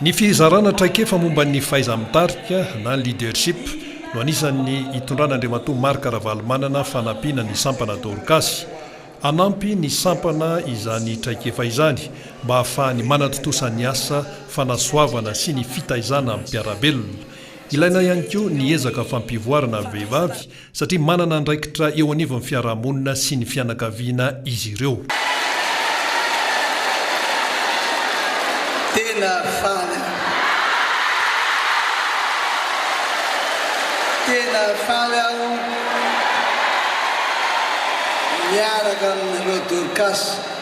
Ny fizarana traikefa momba ny fahaiza-mitarika na leadership no anisan'ny itondran'Andriamatoa Marc Ravalomanana fanampiana ny sampana Dorcas. Hanampy ny sampana izany traikefa izany mba hahafahany manatontosa ny asa fanasoavana sy ny fitaizana mpiara-belona. Ilaina ihany koa ny ezaka fampivoarana vehivavy Satria manana andraikitra eo anivon'ny fiarahamonina sy ny fianakaviana izy ireo. Tena faly aho. Tena faly aho miaraka amin'ireo Dorcas.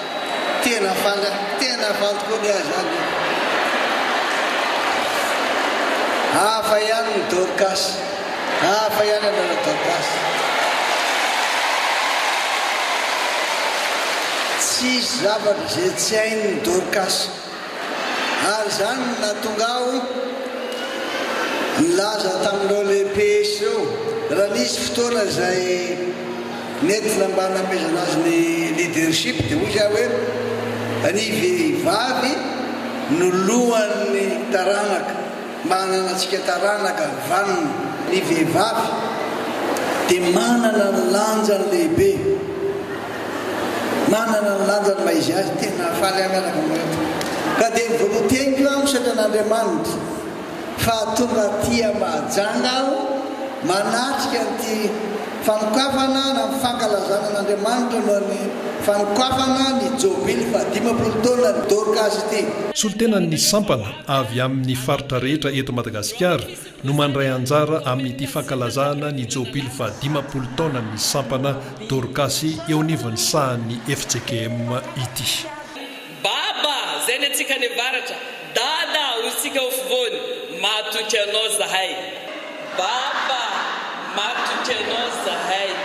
Tena fanta, tena fantoko ny ahy zany e. Hafa ihany ny Dorcas, hafa ihany anao la Dorcas. Tsisy zavatra izay tsy hain'ny Dorcas. Ary izany no nahatonga ahy nilaza tamin'ireo lehibe ireo, raha nisy fotoana izay nentina mba namehezana azy ny leadership, dia hoy izy ahy hoe, Ny vehivavy no lohan'ny taranaka. Manana antsika taranaka vanona. Ny vehivavy dia manana ny lanjany lehibe, manana ny lanjany maha izy azy. Tena nahafaly ahy mianaka aminao eto. Ka dia nivolon-teniko aho misaotra an'Andriamanitra fa tonga aty Mahajanga aho manatrika an'ity fanokafana na ny fankalazana an'Andriamanitra noho ny fanokafana ny jobily fahadimampolo taonan'i Dorcas ity. Solontenan'ny sampana avy amin'ny faritra rehetra eto Madagasikara no mandray anjara amin'ity fankalazana ny jobily fahadimampolo taonan'ny sampana Dorcas eo anivon'ny sahan'ny FJKM ity. Baba, zay ny antsika any avaratra, Dada, hoy isika ao afovoany, matoky anao zahay. Baba, matoky anao zahay.